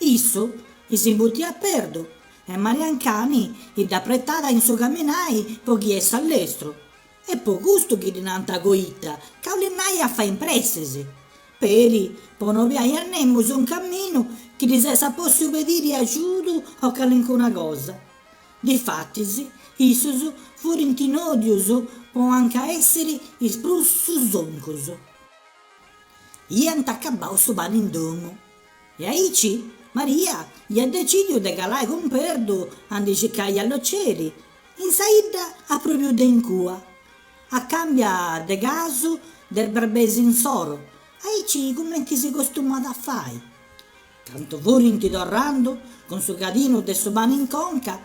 Issu isi mutiat Perdu e Mariancani idd'apretat in su caminai po chi essat lestru e po custu chi ddi nant Coita ca 'olit nai a fai in pressis, peri po no obiai a nemus in caminu chi ddis essat possiu pediri agiudu o calincuna cosa. Difatis issus furint nodius po anca essiri is prus susoncus. Iant acabau su pani in domu. E aici Maria iat decìdiu de calai cun Perdu a ndi circai a Loceri, in sa 'idda a pròpriu de in cua, a càmbia de casu de is barbes insoru, aici cumenti si costumat a fai. Candu furint torrandu cun su cadinu de su pani in conca,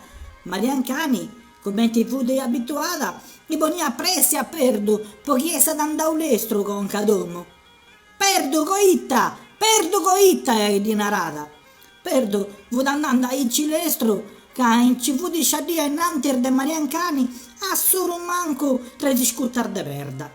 Mariancani, cumenti fut abituada, ndi poniat pressi a Perdu po chi essat andau lestru conca a domu, Perdu coita! Perdu coita! iddi narat, Perdu fut andende aici lestru ca nci fut sciadia innantis de Mariancani a solu mancu tres iscutas de perda.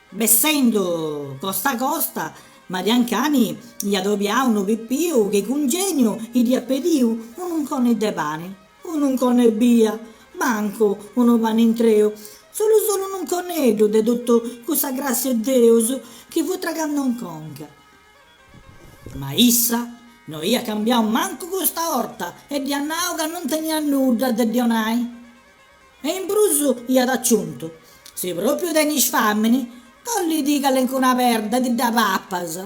Bessendu costa costa, Mariancani iat obiau unu pipiu chi cun geniu idd'iat pediu un'unconi de pani. Un'unconi ebbia, mancu unu pani intreu, solu solu un'unconeddu de totu cussa grassia 'e Deus chi fut tragando in conca. Ma issa no iat cambiau mancu custa 'orta e dd'iat nau ca non teniat nudda de ddi 'onai. E in prus iat aciuntu, Si propriu tenis famini, collidi calencuna perda ti dda papas.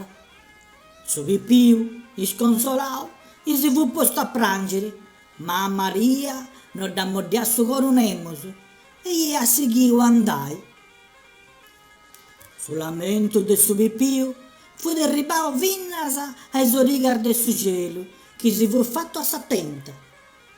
Su pipiu, isconsolau, isi fut postu a prangiri, ma a Maria no dd'amoddiat su coru nemus e iat sighiu a andai. Su lamentu de su pipiu fut erribau finas a is origas de su celu chi si fut fatu a sa tenta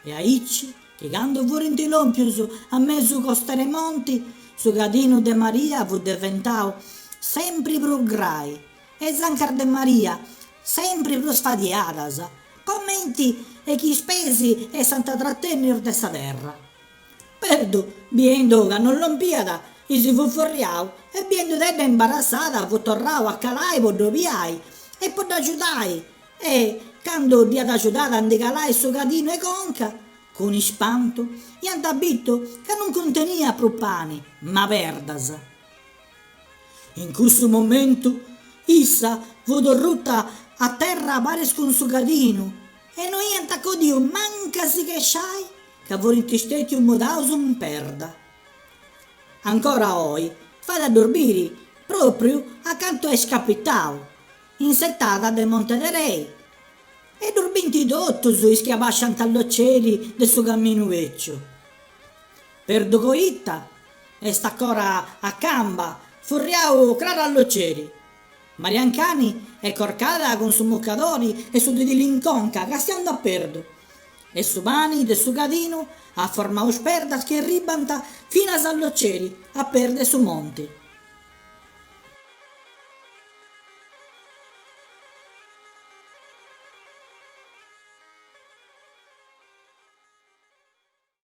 e aici chi candu furint lompius a mesu costera 'e monti su cadinu de Maria fut deventau sempri prus grai e is ancas de Maria sempri prus fadiadas, comenti e chi is pes essant tratennius de sa terra. Perdu, biendu ca non lompiat, isi fut furriau e biendudedda imbarassada fut torrau a calai po dd'obiai e po dd'agiudai e, candu dd'iat agiudada a ndi calai su cadinu 'e conca, cun ispantu iant bitu ca non cunteniat prus pani, ma perdas. In cussu momentu issa fut ruta a terra paris cun su cadinu e no iant acodiu mancu a si chesciai ca furint stètius mudaus in perda. Ancora oi fait a ddus biri pròpriu acantu est capitau, in s'etada de Monte Tarei, e ddus bint totus is chi abàsciant a Loceri de su caminu bèciu. Perdu Coita est ancora a camba furriau craru a Loceri. Mariancani est corcada cun su mucadori e su tidili in conca castiandu a Perdu e su pani de su cadinu at formau is perdas chi erribant finas a Loceri a peis de su monti.